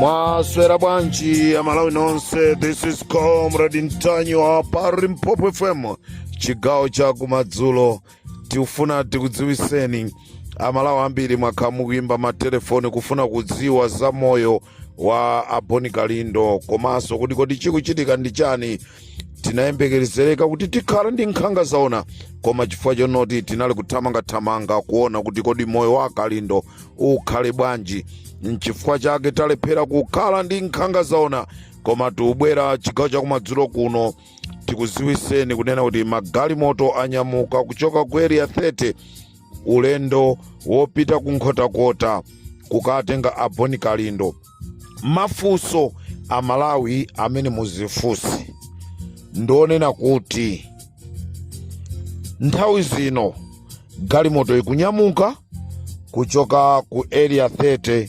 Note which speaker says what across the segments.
Speaker 1: mwaswera bwanji amalawi nonse this is comrade ntanyiwa pa limpopo fm chigawo cha kumadzulo tikufuna tikudziwiseni amalawi ambiri mwakhala mukuyimba matelefoni kufuna kudziwa za moyo wa aboni kalindo komanso kuti kodi chikuchitika ndi chani tinayembekezereka kuti tikhala ndi nkhanga zaona koma chifukwa chonoti tinali kuthamangathamanga kuona kuti kodi moyo wa kalindo ukhale bwanji nchifukwa chake talephera kukhala ndi nkhanga zaona koma tiubwera chigawo chakumadzulo kuno tikuziwiseni kunena kuti magalimoto anyamuka kuchoka ku area 30 ulendo wopita ku nkhotakota kukatenga a boni kalindo mafunso a malawi amene muzifunse ndi onena kuti nthawi zino galimoto ikunyamuka kuchoka ku area 30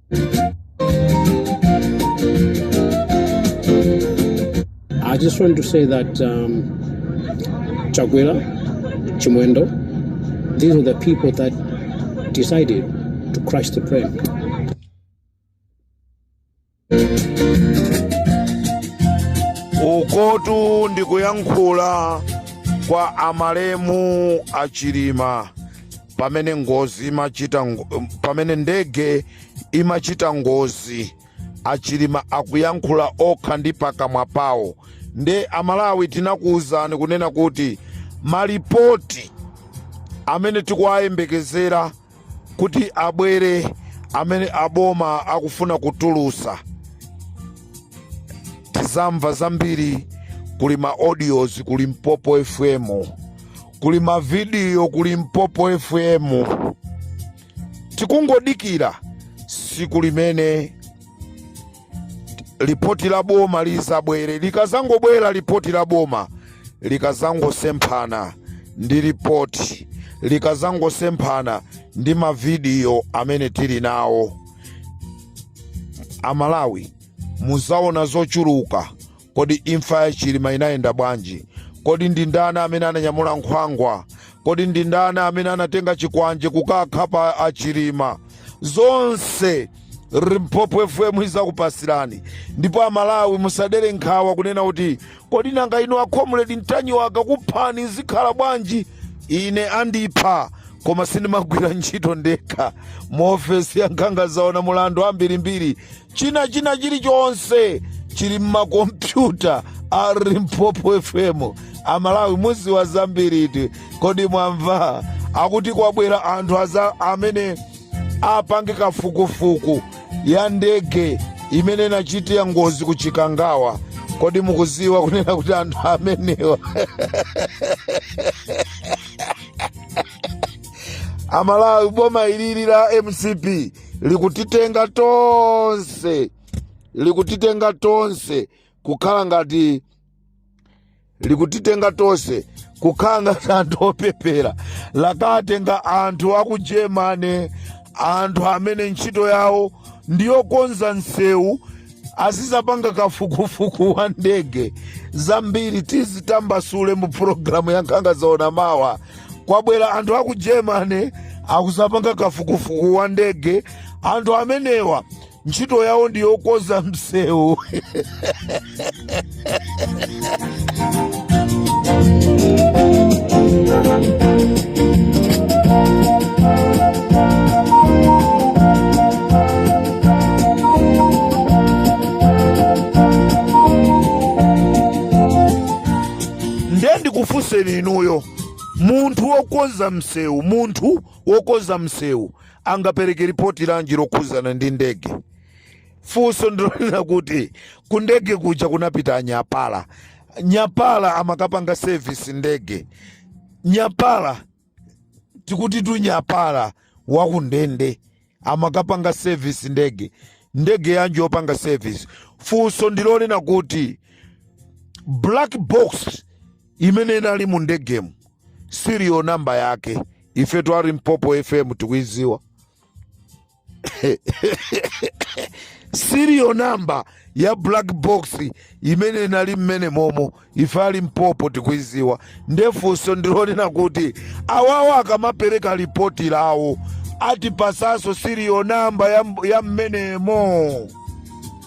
Speaker 2: I just want to say that um, Chakwera, Chimwendo, these are the people that decided to crash the
Speaker 1: plane. ukotu ndikuyankhula kwa amalemu achilima pamene ndege imachita ngozi achilima akuyankhula okha ndi pakamwa pawo nde amalawi tinakuwuzani kunena kuti malipoti amene tikuwayembekezera kuti abwere amene aboma akufuna kutulusa tizamva zambiri kuli ma audios ku limpopo fm kuli mavidiyo ku limpopo fm tikungodikira siku limene lipoti la boma lizabwere likazangobwera lipoti la boma likazangosemphana ndi lipoti likazangosemphana ndi mavidiyo amene tili nawo amalawi muzaona zochuluka Kodi imfa ya Chilima inayenda bwanji? Kodi ndi ndani amene ananyamula nkhwangwa? Kodi ndi ndani amene anatenga chikwanje kukakhapa a Chilima? Zonse Limpopo FM izakupasirani ndipo amalawi musadere nkhawa kunena kuti kodi nanga inu akomredi ntanyiwa akakuphani zikhala bwanji ine andipha koma sindimagwira ntchito ndekha mu ofesi ya nkhanga zaona muli anthu ambirimbiri china china chilichonse chili mmakompyuta a limpopo fm amalawi muziwa zambiriti kodi mwamva akuti kwabwera anthu aza amene apange kafukufuku ya ndege imene inachitira ngozi ku chikangawa kodi mukuziwa kunena kuti anthu amenewa amalawi boma ilili la mcp likutitenga tonse likutitenga tonse kukhala ngati likutitenga tonse kukhala ngati anthu opepera lakatenga anthu aku germany anthu amene ntchito yawo ndiyokonza nsewu azizapanga kafukufuku wa ndege zambiri tizitambasule mu pulogalamu ya nkhanga zaona mawa kwabwera anthu aku germany akuzapanga kafukufuku wa ndege anthu amenewa ntchito yawo ndi yokonza msewu nde ndikufunseni inuyo munthu wokonza msewu munthu wokonza msewu angapereke ripoti lanji lokhuzana ndi ndege funso ndilonena kuti kundege kuja kunapita anyapala nyapala amakapanga service ndege nyapala tikuti tu nyapala wakundege amakapanga service ndege ndege yanji yopanga service funso ndilonena kuti black box imene inali mu ndegemu serial namba yake ife a limpopo fm tikuiziwa serial number ya black box imene inali mmenemomo ife a limpopo tikuiziwa ndefunso ndilonena kuti awawa akamapereka lipoti lawo atipasaso serial number ya mmenemo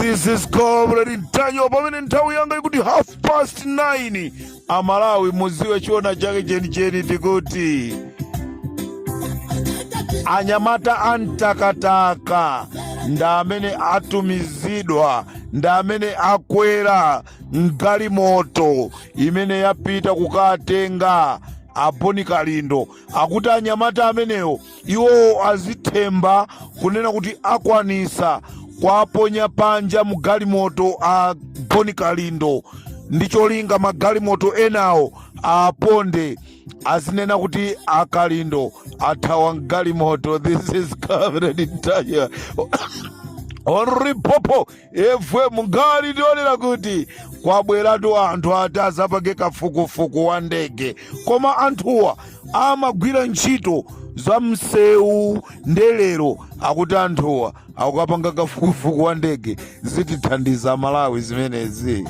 Speaker 1: This is Comrade Ntanyiwa pamene nthawi yanga ikuti half past 9 amalawi muziwe chiona chake chenicheni tikuti anyamata a mtakataka ndi amene atumizidwa ndi amene akwera mgalimoto imene yapita kukatenga a boni kalindo akuti anyamata amenewo iwowo azithemba kunena kuti akwanisa kwaponya panja mgalimoto a boni kalindo ndi cholinga magalimoto enawo aponde azinena kuti akalindo athawa mgalimoto this is comrade ntanyiwa on limpopo Fm nkhani ndi yonena kuti kwabweratu anthu ati azapange kafukufuku wa ndege koma anthuwa amagwira ntchito za msewu nde lero akuti anthuwa akukapanga kafukufuku wa ndege zitithandiza malawi zimenezi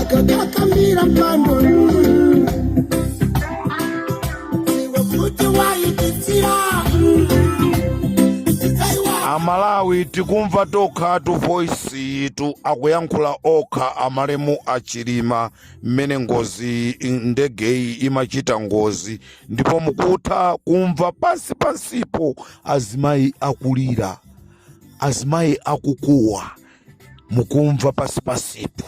Speaker 2: akakakambira mpando
Speaker 1: iwe kuti waipitsira amalawi tikumva tokhatu voice yitu akuyankhula okha amalemu achilima mmene ngozi ndegeyi imachita ngozi ndipo mukutha kumva pansi pansipo azimayi akulira azimayi akukuwa mukumva pansi pansipo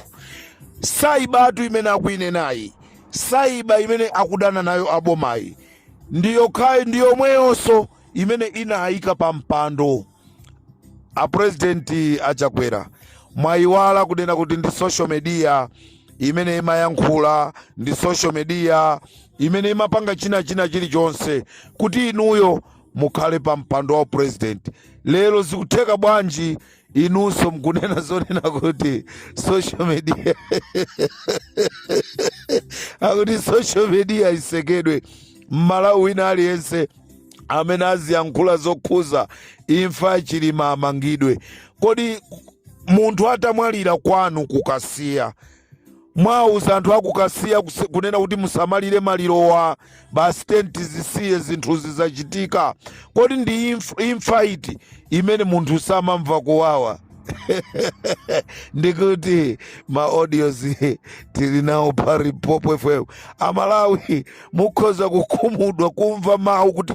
Speaker 1: cyber tu imene akuinenayi cyber imene akudana nayo abomayi ndi yokhayi ndi yomweyonso imene inayika pa mpando a president achakwera mwayiwala kunena kuti ndi social media imene imayankhula ndi social media imene imapanga china china chilichonse kuti inuyo mukhale pa mpando wa upresident lero zikutheka bwanji inunso mkunena zonena kuti social media akuti social media isekedwe mmalawi wina aliyense amene aziyankhula zokhuza imfa ya chilima amangidwe kodi munthu atamwalira kwanu kukasiya mwauza anthu akukasiya kuse- kunena kuti musamalire malirowa basi tenti zisiye zinthu zizachitika kodi ndi imf- imfa iti imene munthu samamva kuwawa ndikuti ma audios tili nawo pa limpopo fm amalawi mukhoza kukhumudwa kumva mawu kuti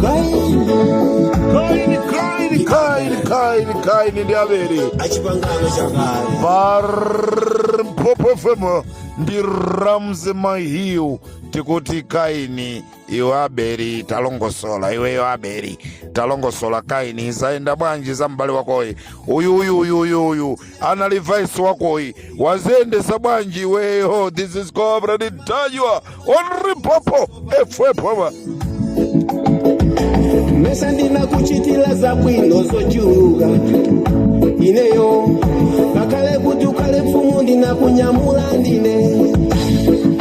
Speaker 1: kaini kaini kaini kaini kaini ndi abere achipangano
Speaker 3: chakale barmpopo
Speaker 1: fm ndi ramze mahiu tikuti kaini iwe abeli talongosola iweyo abeli talongosola kaini zayenda bwanji za m'bale wakoyi uyu uyu uyu uyu uyu anali vice wakoyi waziyendesa bwanji iweyo this is comrade ntanyiwa on limpopo fm
Speaker 3: mesa ndinakuchitira zabwino zochuluka ineyo ngakhale kuti ukhale mfumu ndinakunyamula ndine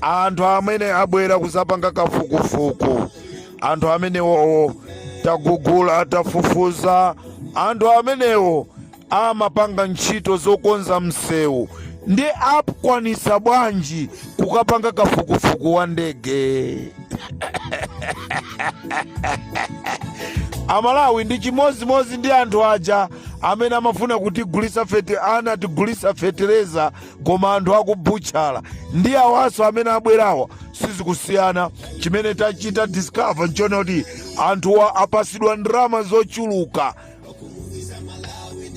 Speaker 1: anthu amene abwera kuzapanga kafukufuku anthu amenewowo tagugula tafufuza anthu amenewo amapanga ntchito zokonza msewu nde akwanisa bwanji kukapanga kafukufuku wa ndege amalawi ndi chimodzimodzi ndi anthu aja amene amafuna kutigulisa fete anatigulisa fetereza koma anthu akubutchala ndi awaso amene abwerawa sizikusiyana chimene tachita discover nchonena kuti anthuwa apasidwa ndalama zochuluka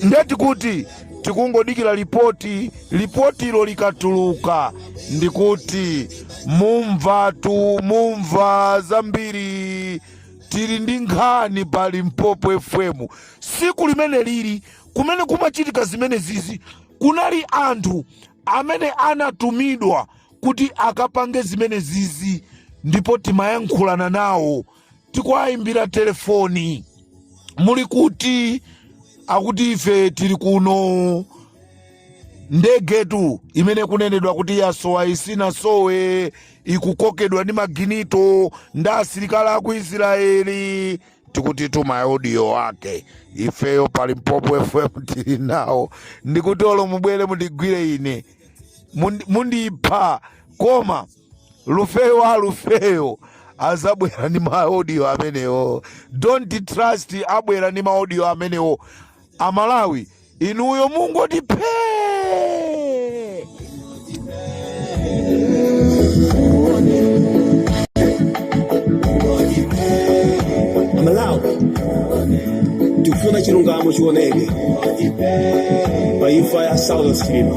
Speaker 1: ndeti kuti tikungodikira lipoti lipotilo likatuluka ndikuti mumvatu mumva zambiri tili ndi nkhani pa limpopo fm siku limene lili limene kumachitika zimene zizi Kunali anthu amene anatumidwa kuti akapange zimene zizi ndipo timayankhulana nawo tikuwayimbira telefoni muli kuti akuti ife tili kuno ndegetu imene ikunenedwa kuti yasowa isanasowe ikukokedwa ndi maginito ndi asilikali aku israeli tikutitu maaudio ake ifeyo pa limpopo fm tili nawo ndikuti olo mubwere mundigwire ine mundi- mundipha koma lufeyo wa lufeyo azabwera ndi maaudio amenewo don't trust abwera ni maaudio amenewo amalawi inuyo mungoti phee
Speaker 3: amalawi tikufuna chilungamo chioneke pa imfa ya saulos chilima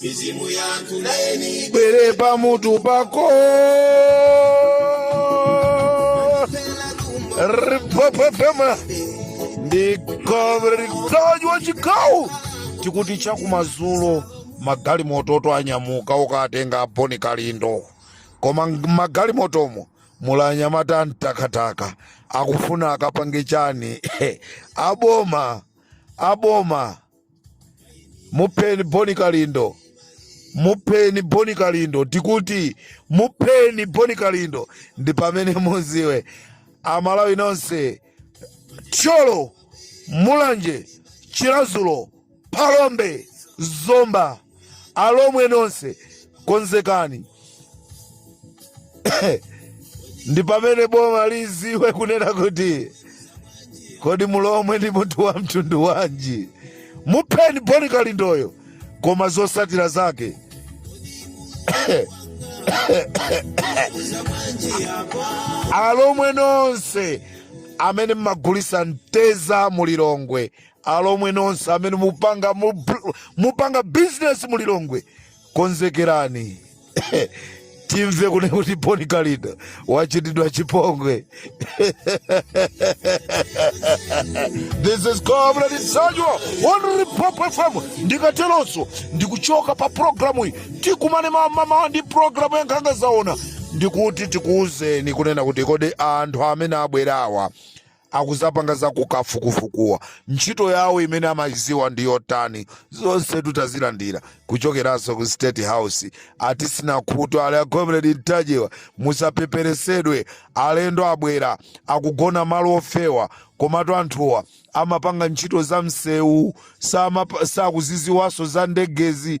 Speaker 3: mizimu yanthu nayini ibwere
Speaker 1: pamutu pako limpopo fm ndi comrade ntanyiwa chikawu tikuti chakumazulo magalimoto anyamuka okatenga aboni kalindo koma mmagalimotomo muli anyamata amtakataka akufuna akapange chani aboma aboma mupheni boni kalindo mupheni boni kalindo tikuti mupheni boni kalindo ndi pamene muziwe amalawi nonse thyolo mulanje chiradzulu phalombe zomba Alomwe nonse konzekani. Ndi pamene boma liziwe kunena kuti kodi mulomwe ndi munthu wa mtundu wanji. Mupheni Boni Kalindoyo koma zosatira zake alomwe nonse amene mmagulisa mtedza mulilongwe alomwe nonse amene mupanga mupanga business mu lilongwe konzekerani timve kunena kuti boni kalindo wachitidwa chipongwe this is comrade ntanyiwa on limpopo fm ndikatelonso ndikuchoka pa programu iyi tikumane mawa mamawa ndi programu ya nkhanga zaona ndikuti tikuuzeni kunena kuti kodi anthu amene abwerawa akuzapanga za kafukufukuwa ntchito yawo imene amayiziwa ndi yotani zonsetu tazilandira kuchokeraso ku state house atisina khutu ali a comrade ntanyiwa musapeperesedwe alendo abwera akugona malo ofewa komatu anthuwa amapanga ntchito za msewu sakuziziwaso za ndegezi